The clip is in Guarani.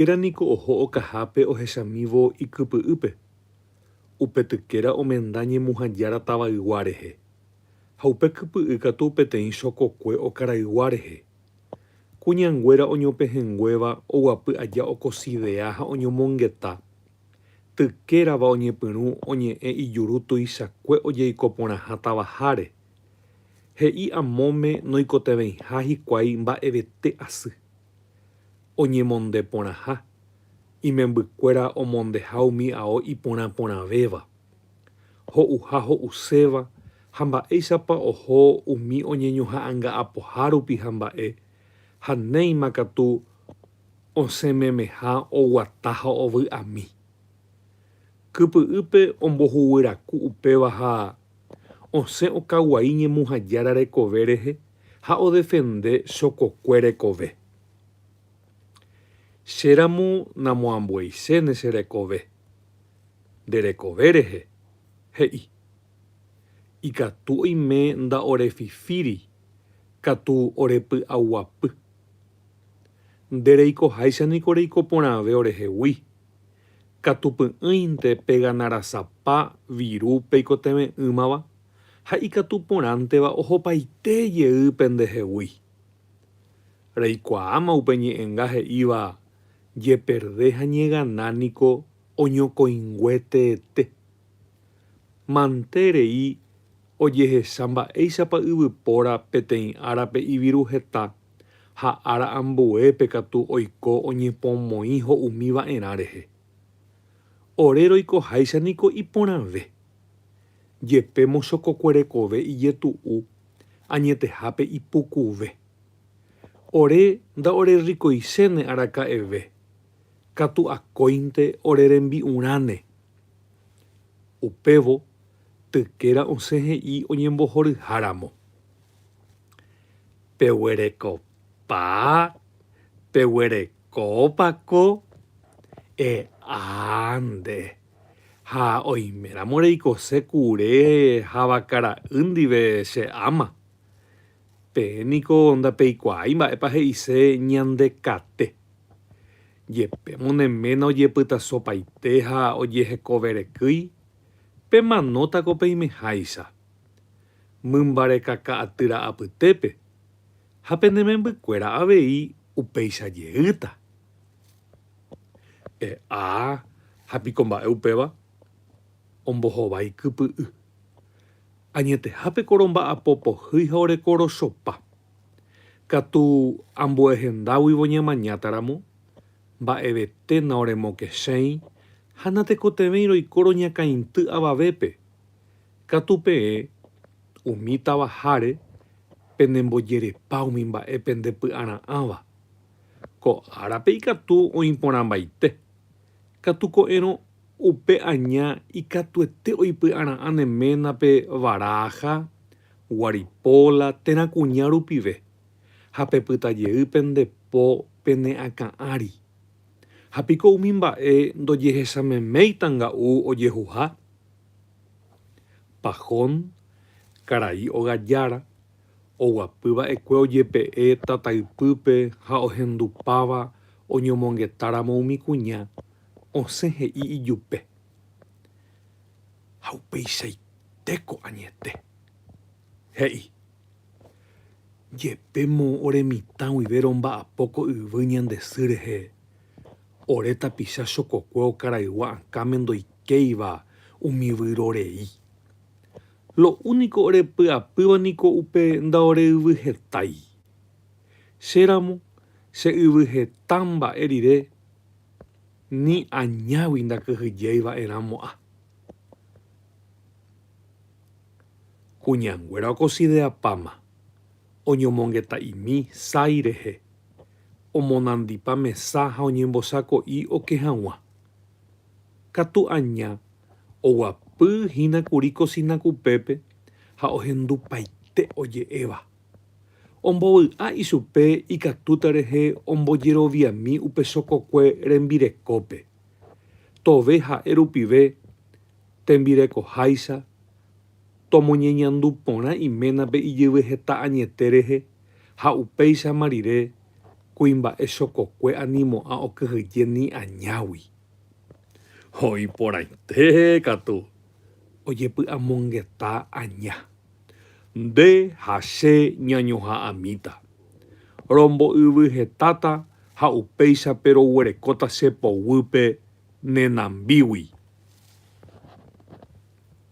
Péra niko oho okahápe ohechamívo ikypy'ýpe. Upe tykéra omenda ñemuhãjára tavaygua rehe, ha upe kypy'y katu peteĩ chokokue okaraygua rehe. Kuñanguéra oñopehẽnguéva oguapy aja okosidea ha oñomongeta. Tykérava oñepyrũ oñe'ẽ ijuru tuichakue ojeiko porãha tavaháre. He'i amóme noikotevẽiha hikuái mba'evete asy. oñemonde porãha, imembykuéra omondeha umi ao iporã porãvéva, ho'uha ho'uséva ha mba'éichapa oho umi oñeñoha'anga'apoha rupi ha mba'e, ha néima katu osẽmemeha oguata ha ovy'ami. Kypy'ýpe ombohuguýraku upéva ha osẽ okaguai ñemuhajára rekove rehe. ha odefende chokokue rekove. Che ramo namoambueichéne che rekove, nde rekove rehe, he'i. Ikatu oime nda'orefifíri katu orepy'aguapy. Nde reikoháicha niko reiko porãve orehegui, katu py'ỹinte peganarasapa viru peikotevẽ'ỹmava. ha ikatu porãnteva ohopaite jey pendehegui. Reikuaáma upe ñe'ẽnga he'íva jeperde ha ñegana niko oñokõingue teete. Mante rei ojehecha mba'éichapa yvypóra peteĩ árape iviru heta ha ára ambuépe katu oiko oñepomoĩ ho'umi va'erã rehe. Ore roikoháicha niko iporãve. Jepe mochokokuerekove ijetu'u añetehápe ipukuve. Ore nda'orerrikoichéne araka'eve, katu akóinte ore rembi'urãne. Upévo tykéra osẽ he'i oñembohoryháramo. Peguerekove. Papá, peguerekópa ko? E'ánde. Ha oiméramo reikose kure havaka ra'y ndive che áma. Peẽ niko ndapeikuaái mba'épa he'ise ñande kate. Jepémo ne ména ojepytasopaite ha ojehekoverekýi, pemanóta ko peimeháicha. Mymbarekaka'aty ra'apytépe. ha pene membykuéra avei upéicha jeýta. E'a, ha piko mba'e upéva? Ombohova ikypy'y. Añeteha pe koromba'apo pohýi ha ore korochopa. Katu ambue hendáguivo ñamañáta ramo, mba'evete naoremokesẽi ha natekotevẽi roiko roñakãity avavépe. Katu peẽ umi tavaháre penembojerepa umi mba'e pendepy'ara'ãva. Ko árape ikatu oĩporãmbaite. Katu ko'ẽrõ upe aña ikatuete oipy'ara'ã ne ménape Baraja, Guaripola térã kuña rupive ha pepyta jey pende po pene akã ári. Ha piko umi mba'e ndojehechameméita nga'u ojehuha? Pahón, karai ogajára, oguapy va'ekue ojepe'e tata ypýpe ha ohendupáva oñomongetáramo umi kuña, osẽ he'i ijupe. Ha upeichaitéko añete. He'i. Jepémo ore mitã guive romba'apo ko yvy ñande sy rehe. Ore tapicha chokokue okaraygua akãme ndoikéiva umi vyrorei. Lo úniko orepy'apýva niko upe ndaore yvy hetái. Che ramo, che yvy heta mba'e rire ni añágui ndakyhyjéi va'e ramo'a. Kuñanguéra okosideapáma. Oñomongeta'imi sái rehe, omonandipa mesa ha oñembosako'i oke hag̃ua. Katu aña oguapy hína kuri kosina kupépe ha ohendupaite oje'éva. Ombovy'a ichupe ikatúta rehe ombojeroviami upe chokokue rembirekópe, tove ha'e rupive tembirekoháicha, Tomoñeñandu porã iménape ijyvy heta añete rehe ha upéichama rire kuimba'e chokokue animo'ã okyhyje ni añágui. Ho iporãite katu ojepy'amongeta aña. Nde ha che ñañoha'ãmíta. Rombo'yvy hetáta ha upéichape roguerekóta che poguýpe ne nambígui.